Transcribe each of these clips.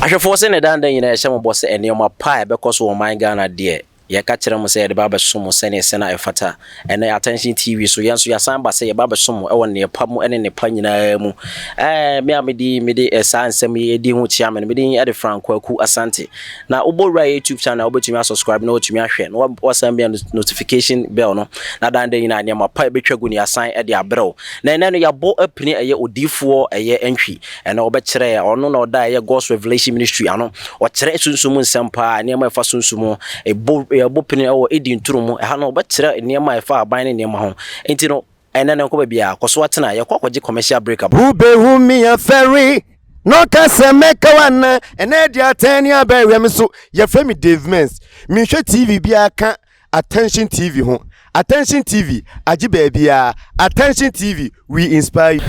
Ahwɛfoɔ sɛ na ɛda nda nyinaa yɛhyɛ mo bɔ sɛ nneɛma pa a ɛbɛkɔ so wɔ ɔman Ghana deɛ yɛka kyerɛ mo sɛ yɛde ba abɛso mo sɛneɛ sɛ na ɛfata ɛnɛ Attention TV so yɛn nso yɛasan aba sɛ yɛba abɛso mo ɛwɔ neɛ pa mu ɛne ne pa nyinaa mu ɛɛ me a medi mede eh, saa nsɛm yi ɛdi ho kyia me no mede ɛde Franco Aku Asante na wobɔ wura YouTube channel wobɛtumi asubscribe na watumi ahwɛ na wasan bia notification bell no na dan dɛ nyinaa nneɛma pa ɛbɛtwa gu ne yɛasan ɛde abrɛw Na ɛnnɛ no yɛabɔ apini ɛyɛ odiyifoɔ ɛyɛ ntwi ɛna ɔbɛkyerɛ ɔno na ɔda ɛyɛ God's Revelation Ministry ano ɔkyerɛ sunsum mu nsɛm paa nneɛma ɛfa sunsum ho ɛbɔ yɛabɔ pini ɛwɔ Eden turo mu ɛha no ɔbɛkyerɛ nneɛma ɛfa aban ne nneɛma ho nti no ɛnnɛ no nkɔ baabiara kɔ so atena yɛkɔ akɔgye commercial break aba. Wobɛhu me afɛre na ɔka sɛ mɛka wo anaa ɛnɛ ɛde atɛn ne abɛn hwɛ me so yɛfrɛ me Dave Mens menhwɛ TV biara ka Attention TV ho Attention TV agye baabiara Attention TV we inspire you.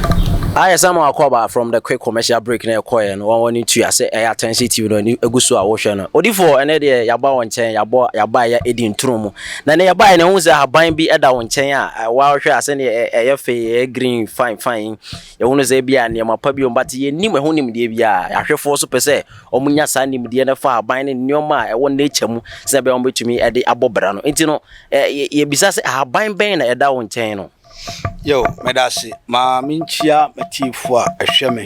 Ayɛ sɛ ma wakɔ aba from the quick commercial break na ɛkɔɛ no wɔn wɔn ne tua sɛ ɛyɛ attention TV no ani egu so a wɔhwɛ no odifoɔ ɛnɛ deɛ yaba wɔn nkyɛn yabɔ yaba yɛ edi nturo mu na ne yaba yɛ na ɛho sɛ ahaban bi ɛda wɔn nkyɛn a ɛwɔ ahwɛ asɛ ne ɛyɛ fɛ ɛyɛ green fine fine yɛho no sɛ ebi a nneɛma pa bi wɔn ba te yɛ nim ɛho nimdeɛ bi a ahwɛfoɔ so pɛ sɛ Wɔnya saa nimdeɛ no fa aban ne nneɛma a ɛwɔ nature mu sɛnea ɛbɛyɛ a wɔbɛtumi de abɔ bra no. Nti no, yɛbisa sɛ, ahaban bɛn na ɛda wo nkyɛn no? Yo, meda ase. Ma menkyia m'atiefo a ɛhwɛ me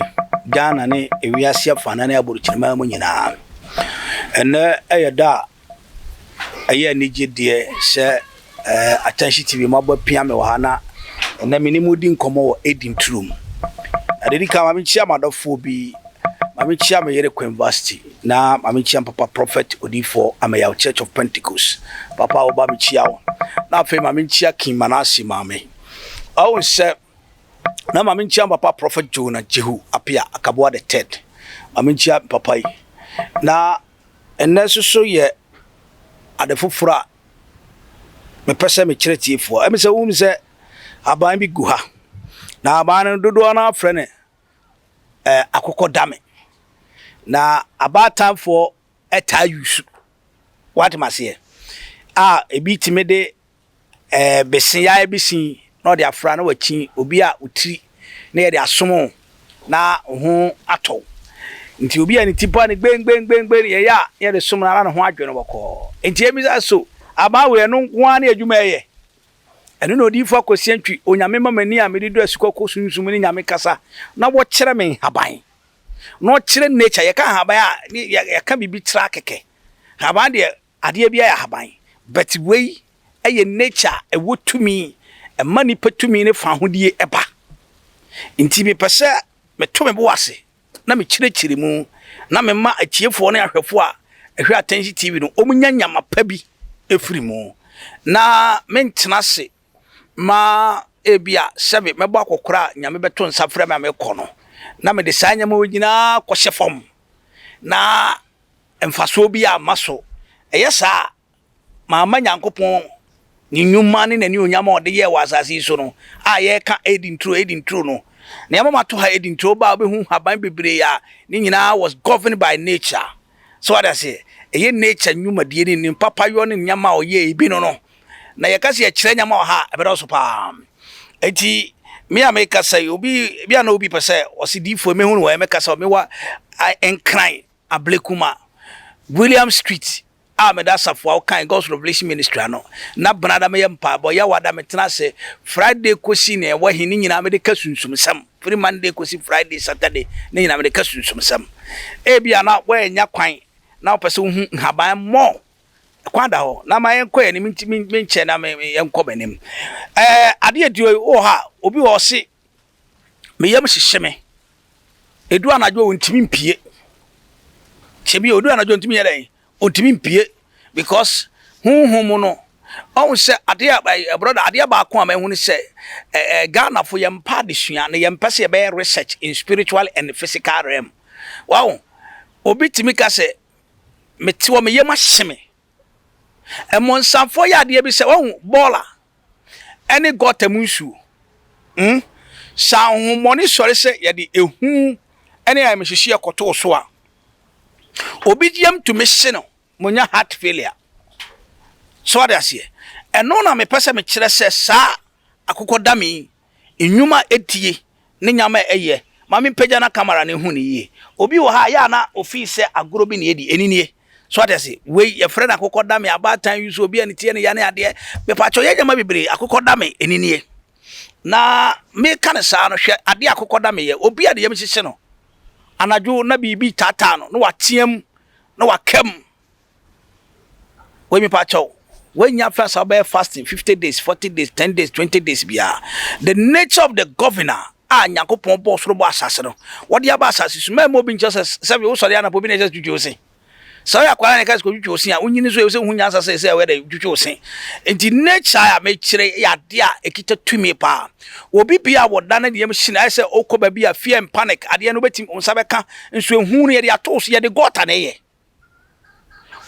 Ghana ne ewiase afanan ne aborokyinama mu nyinaa. Ɛnnɛ yɛ da a ɛyɛ anigye deɛ sɛ ɛɛ Atansi TV mo aba pia me wɔ ha na ɛnɛ me ne mo di nkɔmɔ wɔ Eden turo mu. Ade di kan maame kyia m'adɔfoɔ bi maame kyia me yere Queen Vasti na maame kyia papa Prophet Odiifoɔ Ameyaw Church of Pentecost papa a wɔba me kyia wo na afei maame kyia King Manasseh maame ɔwɔ sɛ na maame kyia papa Prophet Jonah Jehu Apia Akaboa the third maame kyia papa yi na Ɛnnɛ soso yɛ ade foforɔ a mepɛ sɛ mekyerɛ tiefoɔ. Ɛmi sɛ wohunu sɛ aban bi gu ha, na aban no dodoɔ no ara frɛ no eh, akokɔdame. Na abaatanfoɔ taa yusu, wate maseɛ, a ebi tumi de bese ya bi si na ɔde afra na wakyi obi a wo tiri na yɛde asomo na ho atɔ nti obi a ne ti pa ne gbengbengbengbe yɛ ya yɛde som na ne ho adwe no bɔkɔɔ nti ebi sa so aban wei ɛno nko ara ne adwuma ɛyɛ ɛno na odiyifo akosi antwi onyame ma m'ani a mede do asukɔ kɔ sunsum ne nyame kasa na wɔkyerɛ me nhaban na ɔkyerɛ nature yɛka nhaban a yɛka biribi tra kɛkɛ nhaban deɛ Adeɛ biara yɛ ahaban but wei yɛ nature a ɛwɔ tumi, ɛma nipa tumi ne fahodie ba. Nti mepɛ sɛ meto me bo ase na mekyerɛkyerɛ mu na mema atiefoɔ ne ahwɛfoɔ a ɛhwɛ Attention TV no wɔn nya nyama pa bi firi mu. Na mentena ase ma ebia sɛbe mɛbɔ akɔkora a Nyame bɛto nsa frɛ me a mekɔ no na mede saa nyama wei nyinaa kɔhyɛ fam na mfasoɔ biara mma so. Ɛyɛ saa a, mamma Nyankopɔn ne nnwuma ne n'anuonyam a ɔde yɛɛ wɔ asase yi so no a yɛreka Eden turo, Eden turo no. Nea ɛma mato ha Eden turo, wobaa wobɛhu nhaban bebree a ne nyinaa was governed by nature. So wate aseɛ? Ɛyɛ nature nnwumadie ne ne papayɔ ne nneɛma a ɔyɛ ebi no no. Na yɛka sɛ yɛkyerɛ nneɛma wɔ ha a, ɛbɛdɔɔso paa. Enti me a mekasa yi, obi bi a na obi pɛ sɛ ɔse diifoɔ mɛhu no wɔ ɛmɛkasa wɔ mewa a, nkran. Ablekuma, William Street a meda asafo a ɔkan God's Revelation Ministry ano na bena da meyɛ mpaebɔ Yawada metena ase Friday kosi nea ɛwɔ he ne nyinaa mede ka sunsumsɛm firi Monday kosi Friday, Saturday ne nyinaa mede ka sunsumsɛm Ebia na woannya kwan na wopɛ sɛ wohu nhaban more kwan da hɔ na ma yɛnkɔ yɛn anim nti menkyɛ na me yɛnkɔ m'anim Ɛɛ adeɛ aduo yi wowɔ hɔ a obi wɔ ɔse me yam hyehye me. Edu anadwo a ontumi mpue. Sebi odu anadwo ontumi yɛ dɛn? Ontumi mpue because honhom mu no ɔhu sɛ adeɛ a ɛɛ brɔda adeɛ baako a mahu ne sɛ ɛɛ eh, eh, Ghana fo yɛn mpa adesua na yɛn mpɛ sɛ yɛbɛyɛ research in spiritual and physical realm. Wow, obi tumi ka sɛ mete hɔ me yam ahye me. Mmonsamfoɔ yɛ adeɛ bi sɛ wahu bɔɔla ne gɔta mu nsuo. Hmm? Sɛ ahohommɔne sɔre sɛ yɛde ehu ne ayamhyehyeɛ kɔto wo so a, obi yam tumi hye no ma ɔnya heart failure. So ade aseɛ? Ɛno na mepɛ sɛ mekyerɛ sɛ saa akokɔdame yi Nnwom a etie ne nneɛma a ɛyɛ. Ma mimpagya na camera no nhu no yiye. Obi wɔ ha a, ɛyɛ a na ofi sɛ agorɔ bi na yɛdi. Ɛno nie. So ate ase? Wei, yɛfrɛ no akokɔdame, abaatan yi so, obi a ne ti yɛ ne ya ne adeɛ. Mepakyɛw, ɛyɛ nneɛma bebree. Akokɔdame, ɛno nie. Na meka no saa no, hwɛ adeɛ a akokɔdame yɛ. Obi a ne yam hyehye no, anadwo na biribi retaataa no, na wateam, na waka mu. Wei me pa kyɛw wei nyɛ afra sa wobɛyɛ fasting fifty days forty days ten days twenty days bia the nature of the governor a nyankopɔn bɔ soro bɔ asase no wɔde aba asase so mɛmɛ obi nkyɛ sɛ sɛ wo sɔre anapɔ bi na ɛsɛ twitwi ose sɛ ɔyɛ akwara na ɛka sɛ twitwi ose a wonyini so ɛsɛ hu nyansa sɛ sɛ ɔyɛ dɛ twitwi ose nti nature a mekyerɛ yɛ ade a ɛkita tumi paa obi bi a wɔda no deɛm hyina ɛsɛ okɔ baabi a fear and panic adeɛ no bɛtim nsa bɛka nso ehu no yɛde ato so yɛde gɔta na ɛyɛ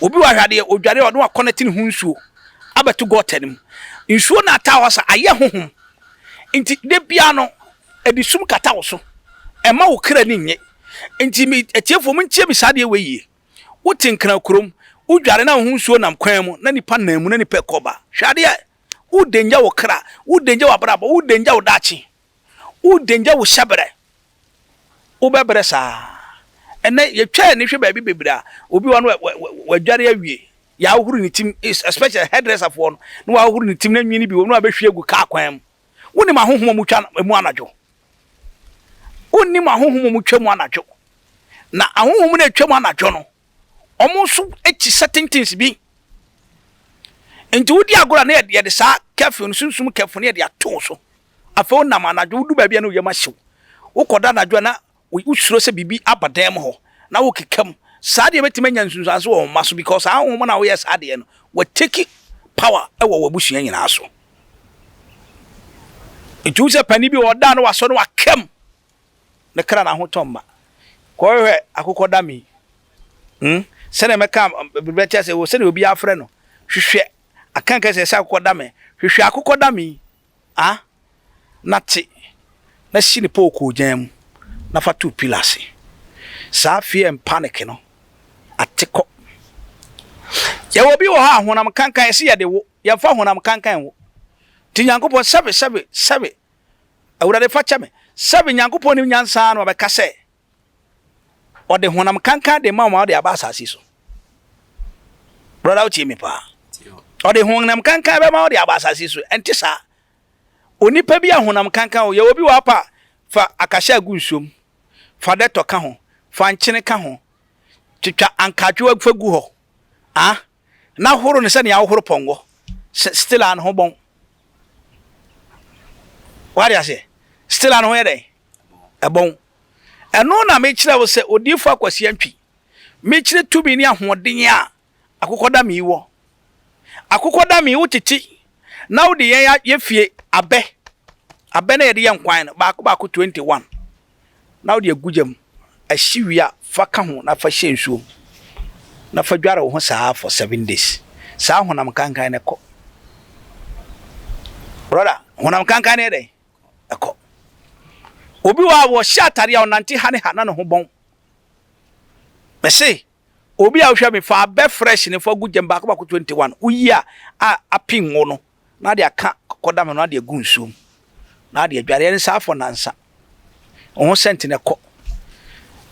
Obi wɔ ha hwɛ adeɛ odware a ɔno wakɔnɛte ne ho nsuo abɛto gɔta no mu. Nsuo no ataa hɔ sa ayɛ honhom. Nti da biara no ɛde sum kata wo so. Ɛma wo kra ni nye. Nti me atiefoɔ montie me saa adeɛ wei yie. Wote nkran kurom, wodware na wo ho nsuo nam kwan mu na nipa nam mu na nipa ɛkɔ ba. Hwɛ adeɛ! Wo danger wo kra, wo danger w'abrabɔ, wo danger wo daakye. Wo danger wo hyɛ brɛ. Wo bɛ brɛ saa. Ɛnɛ yɛ twɛ ani hwɛ baabi bebree a obi wɔ no wa dware awie yɛ ahohoro ne tim especially hairdresser foɔ no na wa ahohoro ne tim na nwini bi wɔ mu na wa bɛ hwie agu car kwan mu. Wo nim ahohom ɔmo twa emu anadwo? Wo nim ahohom ɔmo twa mu anadwo? Na ahohom na etwa mu anadwo no. wɔn nso akyi sɛtentens bi. Nti wodi agorɔ a na yɛde saa kɛfin no sunsum kɛfin no yɛde ato so. Afei wonam anadwo wodu baabi a na oyam ahyew. Wokɔda anadwo a na wosuro sɛ biribi aba dan mu hɔ na wokeka mu. Saa deɛ bɛtumi anya nsunsuanso wɔ wɔn mma so because saa wɔn na woyɛ saa deɛ no wɔteki power wɔ wɔn abusua nyinaa so. Nti wo sɛ panin bi wɔ ɔda na wasɔ na wakam. me kra no ahotɔ mma. Kɔhwehwɛ akokɔdame yi. Hmm, sɛdeɛ mɛka biribi akyerɛ sɛ wɔ sɛdeɛ obi afrɛ no. Hwehwɛ aka kɛ sɛ ɛsɛ akokɔdame. Hwehwɛ akokɔdame yi, ah, na te, na si ne pookoo gyan mu, na fa to pillar ase. Saa fear and panic no, ate kɔ. Yɛwɔ bi wɔ hɔ a honam kankan ɛsɛ yɛde wo, yɛmfa honam kankan wo. Nti Nyankopɔn sɛbe, sɛbe, sɛbe, Awurade fa kyɛ me. Sɛbe Nyankopɔn nim nyansa ara na ɔbɛka sɛ ɔde honam kankan de ma wɔn a ɔde aba asase so. Brɔda wotie me paa. Ɔde honam kankan bɛma ɔde aba asase so. Ɛnte saa. Onipa bi a honam kankan o, yɛwɔ bi wɔ apa fa akahyɛ agu nsuom, fa dɛtɔ ka ho, fa nkyene ka ho, twitwa ankaatwewa fa gu hɔ. Ah, na horo no sɛnea wohoro pɔnkɔ sɛ still a ne ho bɔn wade aseɛ still a ne ho yɛ dɛn ɛbɔn ɛno na mekyerɛ wo sɛ odiifo akwasia ntwi mekyerɛ tumi ne ahoɔden a akokɔdame wɔ akokɔdame wo tete na wode yɛn yɛ fie abɛ abɛ na yɛde yɛ nkwan no baako baako 21 na wode agu gya mu ahye wie a, fa ka ho na fa hyɛ nsuo mu na fa dware wo ho saa ara for seven days. Saa honam kankan no kɔ. Brɔda, honam kankan no yɛ dɛn? Ɛkɔ. Obi wɔ a wɔhyɛ atare a ɔnante ha ne ha na ne ho bɔn. Mese, obi a wohwɛ me fa abɛ fresh ne fa gu gyam baako baako 21 woyi a a apin wo no na ade aka kɔkɔdam no na ade agu nsuo mu na ade adware ɛne saa afɔ nansa wɔn ho sɛnti na ɛkɔ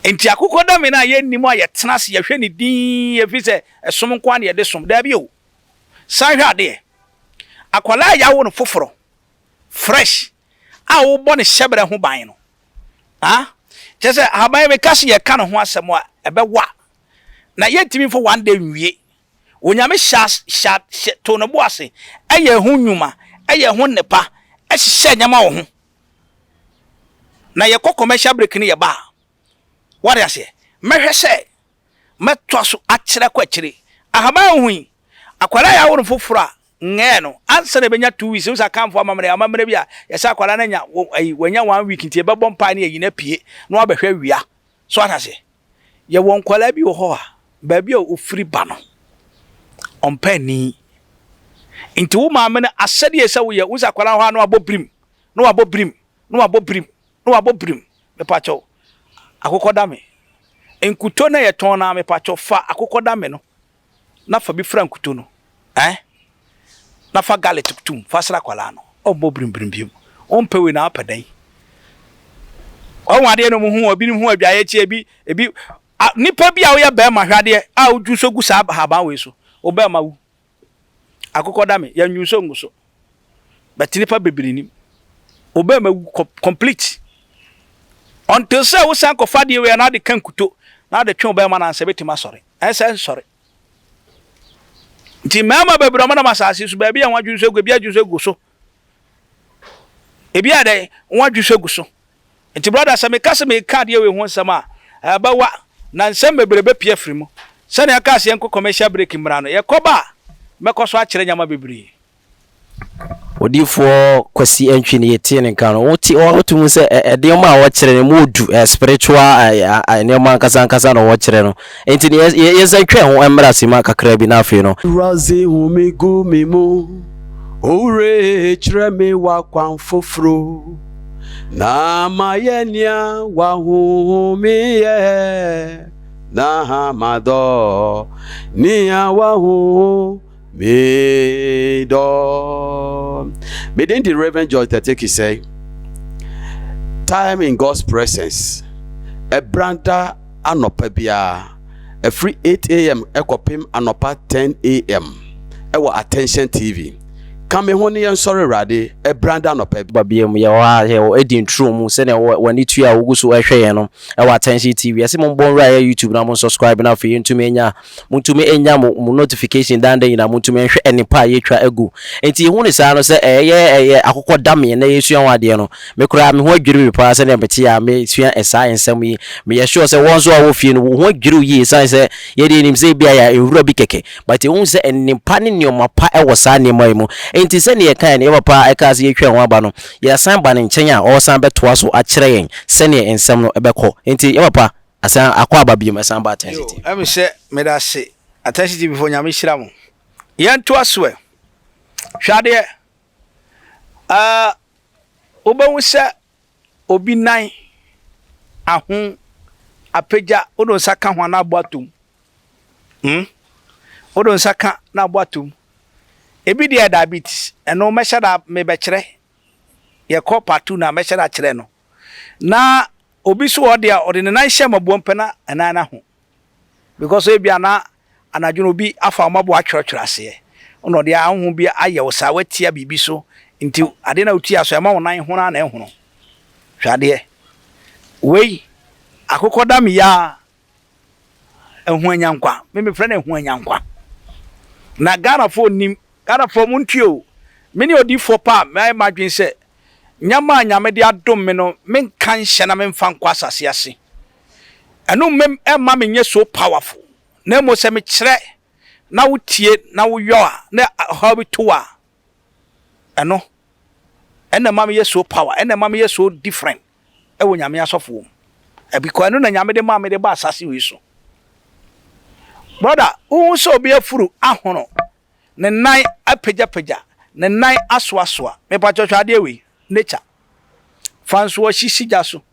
nti akokɔdame no a yɛnnim a yɛtena ase yɛhwɛ ne din ɛfiri sɛ ɛsom nko a na yɛde som daabi o san hwɛ adeɛ akwadaa a yɛawo no foforɔ fresh a wobɔ ne hyɛbrɛ ho ban no ah kyerɛ sɛ ahaban meka se yɛka ne ho asɛm a ɛbɛwa na yɛntumi mfa one day nwie Onyame hyɛ as hyɛ hyɛ too ne bo ase yɛɛ ho nnwuma, yɛɛ ho nnepa, hyehyɛɛ nneɛma wɔ ho. Na yɛkɔ commercial break no yɛba a, wate aseɛ, mɛhwɛ sɛ mɛtoa so akyerɛ kɔ akyire. Ahaban a wohu yi, akwadaa a yɛawo no foforɔ a, ngɛɛ no, ansa na ɛbɛnya two weeks, wohu sɛ Akanfoɔ amammerɛ, amammerɛ bi a, yɛsɛ akwadaa no anya, wo ayi, wanya one week nti yɛbɛbɔ mpaeɛ na yɛayi no apue na wabɛhwɛ awia. So wate aseɛ? Yɛwɔ nkwadaa bi wɔ hɔ a, baabi a wɔfiri ba no, wɔmpɛ ani. Nti wo maame no asɛdeɛ ɛsɛ woyɛ, wo sɛ akwadaa hɔ a na wabɔ birim, na wabɔ birim, na wabɔ birim, na wabɔ birim. Mepakyɛw, akokɔdame. Nkuto na yɛtɔn na mepakyɛw fa akokɔdame no na fa bi fura nkuto no eh na fa garlic tum fa sra akwadaa no ɔmmɔ birimbirim biom wompɛ wei na wopɛ dɛn ɔho adeɛ no mu ho ebinom ho adwaeɛ kyi ebi ebi nipa bi a woyɛ bɛrima hwadeɛ a wodwu nso gu saa ahaban wei so wo bɛrima wu akokɔ da me yɛnwu nso ngu so bɛte nipa bebree nim wo bɛrima wu complete until sɛ wosan kɔfa deɛ wei na ade ka nkuto na ade twe wo bɛrima no ansa bɛtumi asɔre Ɛsɛ nsɔre. Nti mmarima bebree wɔnam asase so baabi a wɔadwene so agu, ebi adwene so agu so, ebi ayɛ dɛn, wɔadwene so agu so. Nti brɔda, sɛ meka sɛ mereka adeɛ wei ho nsɛm a, ɛbɛwa, na nsɛm bebree bɛpue afiri mu. Sɛdeɛ yɛaka sɛ yɛnkɔ commercial break mmra no, yɛkɔba a, mɛkɔ so akyerɛ nneɛma bebree. Odiyifoɔ Kwasi Antwi no yɛtie ne nka no wote wote mu sɛ nneɛma a wɔkyerɛ no mu odu spiritual nneɛma ankasa ankasa na wɔkyerɛ no nti no yɛsan twɛn ho mmra sima kakra bi na afei no Awurade hu me gu me mu Owura kyerɛ me w'akwan foforo Na mayɛ nea w'ahonhome yɛ Na madɔ nea w'ahonhome Medɔ. Me din de Reverend George Tete Kisɛe. Time in God's Presence. Ɛbrada anɔpa biara ɛfiri 8am ɛkɔpem anɔpa 10am ɛwɔ Attention TV. Ka me ho ne yɛn sɔre Awurade ɛbrada anɔpa bi. Ba biam yɛwɔ ha yɛwɔ Eden Turo mu sɛdeɛ wɔ wɔ ani tua a wogu so ɛhwɛ yɛn no ɛwɔ Attention TV. Yɛsi mo mbɔ nwura yɛ YouTube na mo nsubscribe na afei yɛntumi anya Montumi nnya mo mo notification daa da nyinaa, montumi nhwɛ nnepa a yɛatwa agu. Enti yɛhu no saa no sɛ ɛyɛ ɛyɛ akokɔ damee na yɛresua ho adeɛ no. Me koraa me ho adwiri me paa sɛdeɛ mete a mesua saa nsɛm yi. Meyɛ sure sɛ wo nso a wowɔ fie no wo ho adwiri wo yie ɛsiane sɛ yɛdeɛ yɛnim sɛ ebia yɛ nwura bi kɛkɛ but yɛhu sɛ nnepa ne nneɛma pa wɔ saa nneɛma yi mu. Enti sɛdeɛ yɛkaeɛ no yɛn papa a ɛkaa sɛ yɛtwa yɛn ho aba no yɛasan aba ne nkyɛn a ɔresan bɛtoa so akyerɛ yɛn sɛdeɛ nsɛm no bɛkɔ. Enti yɛn papa Asan akɔ aba biom ɛsan bɔ atɛn tete. Yoo ɛm sɛ medase atɛnse TV foɔ nyame hyira mo yɛn to aso ɛ hwɛ adeɛ ɛɛ wobɛhu sɛ obi nan aho apagya wode nsa ka ho a na abɔ atom hmm wode nsa ka na abɔ atom ebi deɛ diabetes ɛno mɛhyɛ da mebɛkyerɛ yɛkɔ part two na mɛhyɛ da kyerɛ no na Obi nso wɔ hɔ deɛ a, ɔde ne nan hyɛ mmaboa mu pɛ na ɛnan no aho. Because ebia na anadwo no obi afa wo mmaboa atwerɛtwerɛ aseɛ, na ɔde ahonhom bi ayɛ wo saa, woatia biribi so nti adeɛ no a wotia so ɛma wo nan hono ara na ɛhono. Hwɛ adeɛ. Wei, akokɔdameya Ahuanyankwa. Me mefrɛ no Ahuanyankwa. Na Ghanafoɔ nnim. Ghanafoɔ montie o. Me ne odiyifoɔ pa a mayɛ m'adwene sɛ nneɛma a Nyame de adom me no menka nhyɛ na memfa nkɔ asase ase. Ɛno mmam ɛmma menyɛ so powerful. Na mmom sɛ mekyerɛ na wotie na woyɔ a na ɔhaw bi to wo a Ɛno ɛna ɛma meyɛ so power, ɛna ɛma meyɛ so different ɛwɔ Nyame asɔfoɔ mu. Ɛbikɔ ɛno na Nyame de maa me de ba asase wei so. Brother, wohu sɛ obi afuru ahono, ne nan apagyapagya, ne nan asoasoa, mepakyɛ hwɛ adeɛ wei, nature. Fa nsoɔhye si gya so.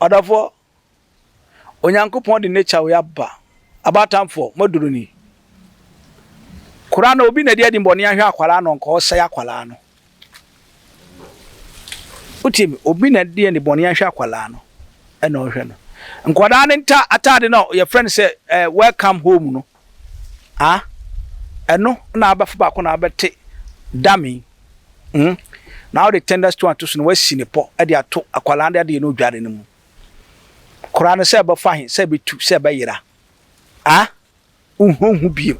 Ɔdɔfoɔ, Onyankopɔn de nature wei aba, aba atamfoɔ, moaduru ni. Koraa no obi na ɛde adimmɔne ahwɛ akwadaa no nka ɔsɛe akwadaa no. Wotie me, obi na ɛde anibɔne ahwɛ akwadaa no ɛna ɔhwɛ no. Nkwadaa no nta ataade no a yɛfrɛ no sɛ eh, welcome home no, ah Ɛno na abɛfo baako na abɛte dummy mm Na wode tender stone ato so na wasi ne pɔ de ato akwadaa de adeɛ no odware no mu Koraa no sɛ ɛbɛfa he, sɛ ɛbɛtu, sɛ ɛbɛyera ah Wonhunhu biom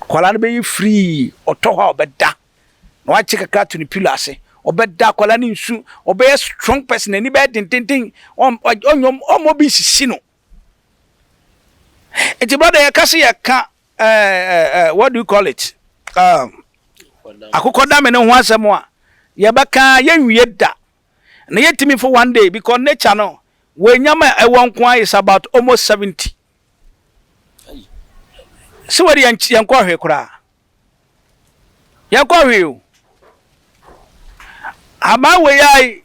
Akwadaa no bɛyɛ firii Ɔtɔ hɔ a ɔbɛda Na wakye kakra ato ne pillow ase Ɔbɛda, akwadaa no nsu Ɔbɛyɛ strong person, n'ani bɛyɛ dendenden Ɔn, ɔn, ɔnyɛ, ɔmma obi nsisi no Nti brɔda yɛ ka se yɛ ka eh, what do you call it um, akokɔ dame no ho asɛm a yɛ bɛ ka yɛ nwie da na yɛ timi for one day because nature no wɔ nyama ɛwɔ nko a is about almost 70 se wɔ de yɛn yɛn kɔ hwe koraa yɛn kɔ hwe o ama wei ai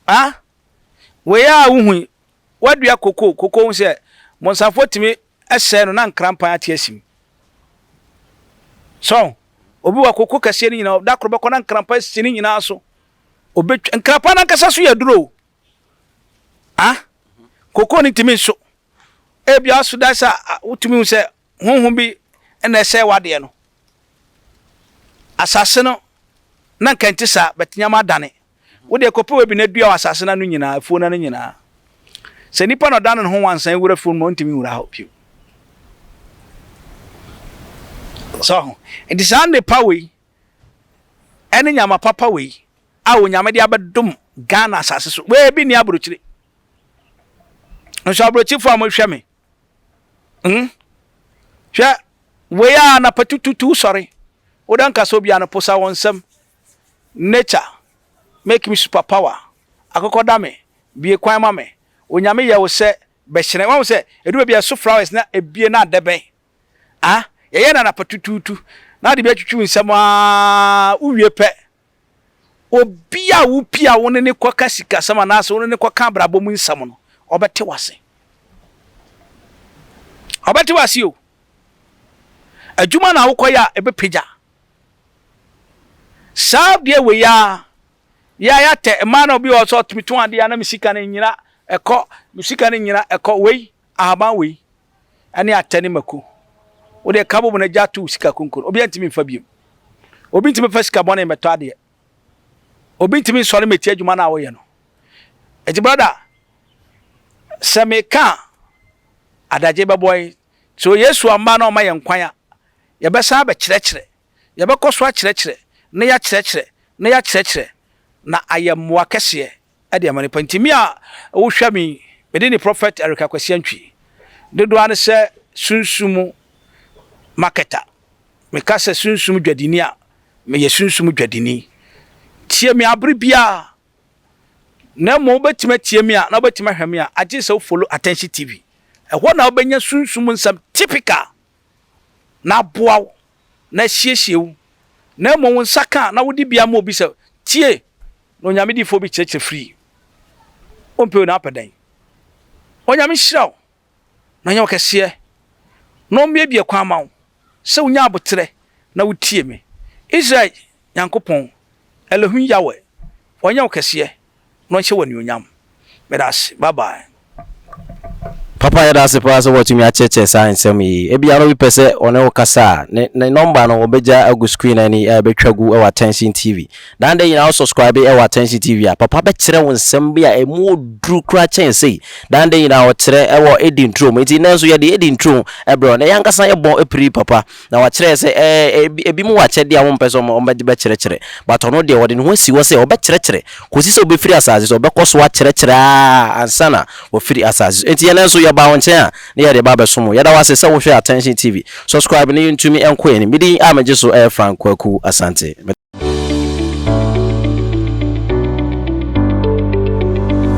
ah wei a wohui Woadua koko, koko hu sɛ bonsafo tumi sɛe no na nkranpan ate asi mu. So obi wɔ koko kɛseɛ no nyinaa, da koro bɛkɔ na nkranpan asi ne nyinaa so. Obetwa nkranpan n'ankasa so yɛ duro. Ah, koko no ntumi nso. Ebia aso da sɛ wotumi hu sɛ honhom bi na ɛsɛe w'adeɛ no. Asase no, na anka ɛnte saa, but nneɛma adane. Wo deɛ kɔpɛ baabi na dua wɔ asase no ano nyinaa, afuo no ano nyinaa. Sɛ nipa na ɔdane ne ho wansan wura afuo no mu a, ɔntumi nwura hɔ bio. Sɛ ɔho. Nti saa nnepa wei, ɛne nyama papa wei, a Onyame de abɛdom Ghana asase so, wei bi nni aburokyire. Nso aburokyifo a mohwɛ me, Hmm? Hwɛ, wei a na patututu sɔre. Woda nka sɛ obia no posa wɔn nsam. Nature, make me super power. Akokɔ da me, bie kwan ma me. Onyame yɛ wo sɛ bɛhyerɛn. Wahu sɛ, ɛdu baabi a ɛso flowers na ebie na adɛbɛn. Ah, yɛyɛ no anapa tutuutu. Na ade bi atwitwi wo nsam aa, wowie pɛ, Obi a wupie a wo ne no kɔka sikasɛm anaasɛ wo ne no kɔka abrabɔ mu nsɛm no, ɔbɛte wo ase. Ɔbɛte wo ase o. Adwuma na wokɔyɛ a, ɛbɛpagya. Saa deɛ wei a, yɛ a yɛatɛ mmaa na obi wɔ hɔ sɛ ɔtumi tɔn adeɛ a na me sika no nyina ɛkɔ, me sika no nyina ɛkɔ wei. Ahaban wei ɛne atɛ ne mako. Wodeɛ ka bom na gya to wo sika konko no, obiara ntumi mfa biom. Obi ntumi mfa sika bɔne mmɛtɔ adeɛ. Obi ntumi nsɔre mmɛti adwuma no a woyɛ no. Eti brada, sɛ meka a, adagye bɛbɔ yɛn. So Yesu amma na ɔma yɛn kwan a, yɛbɛsan abɛkyerɛkyerɛ. Yɛbɛkɔ so akyerɛkyerɛ na yɛakyerɛkyerɛ na yɛakyerɛkyerɛ na ayɛ mmoa kɛseɛ de ama nnipa. Nti me a wohwɛ me yi, me din de Prophet Eric Akwasi Antwi. Dodoɔ ara ne sɛ Sunsum marketer. Me ka sɛ Sunsum dwadini a, meyɛ Sunsum dwadini. Tie me abere biara. Na mmom wobɛtumi atie me a na wobɛtumi ahwɛ me a, agye sɛ wo follow Attention TV. Ɛhɔ na wobɛnya Sunsum nsɛm typical. na aboa wo, na asiesie wo, na mmom wo nsa ka a na wode bi ama obi sɛ, Tie, na Onyame difoɔ bi kyerɛkyerɛ firii. Wompɛ wei na wapɛ dɛn? Onyame nhyira wo, na ɔnyɛ wo kɛseɛ, na ɔmmuebue kwan ma wo sɛ wonya aboterɛ na wotie me, Israel Nyankopɔn, Elohim Yahweh, ɔnyɛ wo kɛseɛ. no nhyɛ wo anuonyam meda ase bye bye. Papa yɛda ase paa sɛ woatumi akyerɛkyerɛ saa nsɛm yi. Ebia na obi pɛ sɛ ɔne wo kasa a, ne ne nɔmba no wɔbɛgya agu screen ani a ɛbɛtwa gu wɔ Attention TV. Daa no da nyinaa wo subscribe wɔ Attention TV a, papa bɛkyerɛ wo nsɛm bi a ɛmu wɔ duru koraa kyɛn sei. Daa no da nyinaa ɔkyerɛ wɔ Edi Nturom. Enti nnɛ nso yɛde Edi Nturom brɛ wo. Nnɛ yɛn ankasa yɛbɔ piri papa. Na wakyerɛ sɛ eh, ebi mu wɔ akyɛdeɛ a wɔmpɛ sɛ wɔde bɛkyerɛkyerɛ, but ɔno deɛ ɔde ne ho asi hɔ sɛ ɔbɛkyerɛkyerɛ kɔsi sɛ ɔbɛfiri asase so, ɔbɛkɔ so akyerɛkyerɛ ara ansa na wafiri asase so. Enti yɛn nso yɛbaa wo nkyɛn a na yɛde ba abɛsom wo. Yɛda wo ase sɛ wohwɛ Attention TV. Subscribe na yɛntumi nkɔ yɛn anim. Me din a megye so yɛ Frank Kwaku Asante.